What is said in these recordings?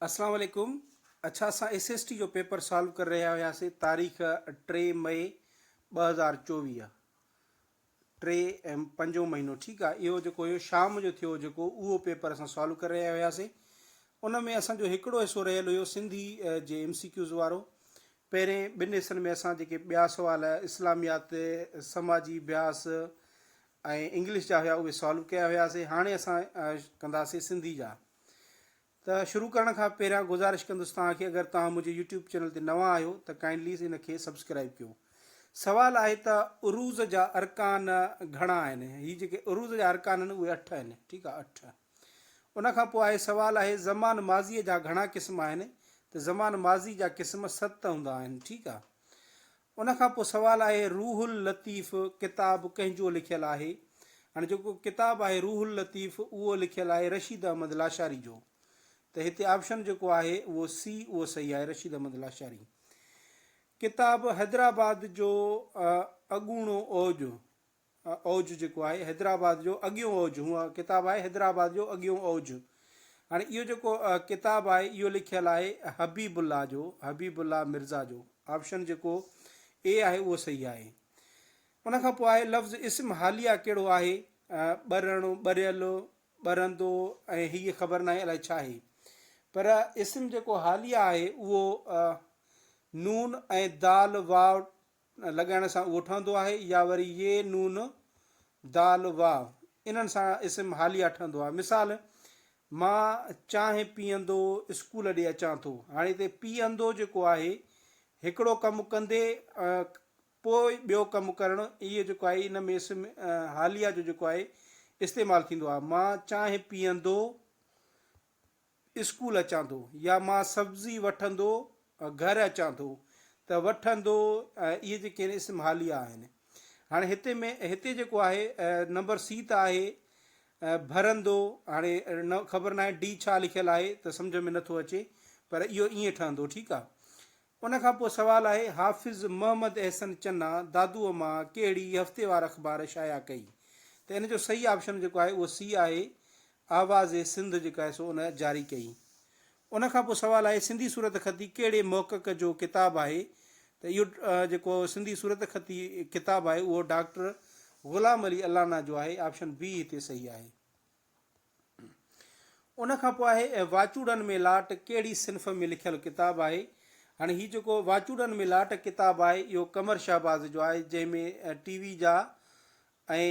اسلام عليڪم اڇا اسان ايس ايس ٽي جو پيپر سالو ڪري رهيا هياسين تاريخ ٽي مئي ٻه هزار چوويهه ٽي ايم پنجو مهينو ٺيڪ آ اهو جيڪو هيو شام جو ٿيو جيڪو اهو پيپر اسان سالو ڪري رهيا هياسين ان ۾ اسانجو هڪڙو حصو رهيل هيو سنڌي جي ايم سي ڪيوز وارو پهرين ٻن حصن ۾ اسان جيڪي ٻيا سوال اسلاميات سماجي بياس ۽ انگلش جا هيا اهي سالو ڪيا هياسي هاڻي اسان ڪنداسي سنڌي جا ته شروع ڪرڻ کان پهريان گذارش ڪندس توهان کي اگر توهان منهنجي يوٽيوب چينل تي نوان آهيو ته ڪائنڊلي ان کي سبسڪرائب ڪيو سوال آهي ته عروض جا ارڪان گهڻا آهن هي جيڪي عروض جا ارڪان آهن اهي اٺ آهن ٺيڪ آهي اٺ ان کان پوء آهي سوال آهي زمان ماضي جا گهڻا قسم آهن ته زمان ماضي جا قسم ست هوندا آهن ٺيڪ آهي ان کان پوء سوال آهي روح اللطيف ڪتاب ڪنهن جو لکيل آهي؟ هاڻي جيڪو ڪتاب آهي روح اللطيف اهو لکيل آهي رشيد احمد لاشاري جو ته هتي آپشن جيڪو آهي اهو سي اهو صحيح آهي رشيد احمد لاشاري ڪتاب حيدرآباد جو اڳوڻو اوج اوج جيڪو آهي حيدرآباد جو اڳيون اوج هو ڪتاب آهي حيدرآباد جو اڳيون اوج هاڻي اهو جيڪو ڪتاب آهي اهو لکيل آهي حبيب الله جو حبيب الله مرزا جو آپشن جيڪو اي آهي اهو صحيح آهي ان کان پوء آهي لفظ اسم حاليه ڪهڙو آهي ٻرڻ ٻريل ٻرندو ۽ هي خبر ناهي الائي ڇا آهي پر اسم جيڪو حاليه آهي اهو نون ۽ دال واو لڳائڻ سان اهو ٺهندو آهي يا وري ي، نون، دال، واو انهن سان اسم حاليه ٺهندو آهي. مثال، مان چانهه پيئندو اسڪول ڏي اچان ٿو. هاڻي هتي پيئندو جيڪو آهي هڪڙو ڪم ڪندي پوء ٻيو ڪم ڪرڻ اهي جيڪو آهي ان ۾ اسم حاليه جو جيڪو آهي استعمال ٿيندو آهي. مان چانهه پيئندو. اسڪول اچان ٿو يا مان سبزي وٺندو گهر اچان ٿو ته وٺندو اهي جيڪي آهن اسم حاليه آهن هاڻي هتي ۾ هتي جيڪو آهي نمبر سي ته آهي ڀرندو هاڻي خبر ناهي ڊي ڇا لکيل آهي ته سمجهه ۾ نٿو اچي پر اهو ائين ٺهندو ٺيڪ آهي ان کان پوء سوال آهي حافظ محمد احسن چنا دادوء مان ڪهڙي هفتيوار اخبار شايع ڪئي ته ان جو صحيح آپشن جيڪو آهي اهو سي آهي آواز سنڌ جيڪا آهي سو ان جاري ڪئي ان کان پوء سوال آهي سنڌي صورت خطي ڪهڙي محقق جو ڪتاب آهي ته اهو جيڪو سنڌي صورت خطي ڪتاب آهي اهو ڊاڪٽر غلام علي الانا جو آهي آپشن بي هتي صحيح آهي. ان کان پوء آهي واچوڙن ۾ لاٽ ڪهڙي صنف ۾ لکيل ڪتاب آهي. هاڻي هي جيڪو واچوڙن ۾ لاٽ ڪتاب آهي اهو قمر شهباز جو آهي جنهن ۾ ٽي وي جا ۽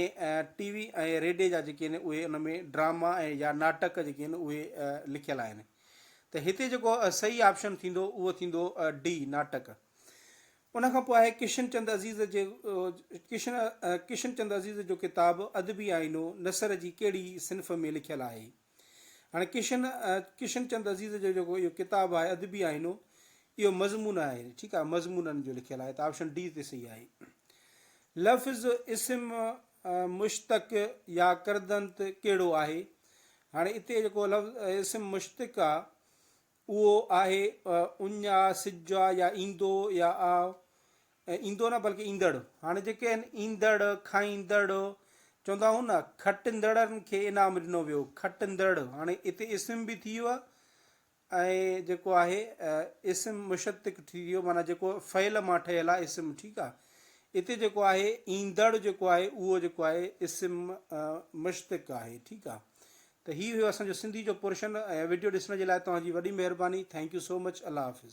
ٽي وي ۽ ريڊي جا جيڪي آهن اهي ان ۾ ڊراما ۽ يا ناٽڪ جيڪي آهن اهي لکيل آهن ته هتي جيڪو صحيح آپشن ٿيندو اهو ٿيندو ڊي ناٽڪ. ان کان پوء آهي ڪشن چند عزيز جي ڪشن ڪشن چند عزيز جو ڪتاب ادبي آئينو نثر جي ڪهڙي صنف ۾ لکيل آهي. هاڻي ڪشن ڪشن چند عزيز جو جيڪو اهو ڪتاب آهي ادبي آئينو اهو مضمون آهي ٺيڪ آهي مضمونن جو لکيل آهي ته آپشن ڊي تي صحيح آهي لفظ اسم مشتق يا کردنت ڪهڙو آهي هاڻي اتي جيڪو لفظ اسم مشتق آهي اهو آهي اڃ آ، سج آ يا ايندو يا آ ايندو نه بلڪه ايندڙ. هاڻي جيڪي آهن ايندڙ، کائيندڙ چوندا آهون نه، کٽندڙن کي انعام ڏنو ويو، کٽندڙ هاڻي اتي اسم به ٿي ويو ۽ جيڪو آهي اسم مشتق ٿي ويو معنيٰ جيڪو فعل مان ٺهيل آهي اسم ٺيڪ آ. اتي جيڪو آهي ايندڙ جيڪو آهي اهو جيڪو آهي اسم مشتق آهي ٺيڪ آ. ته هي هيو اسان جو سنڌي جو پورشن ۽ وڊيو ڏسڻ جي لاء توهان جي وڏي مهرباني ٿينڪ يو سو مچ الله حافظ.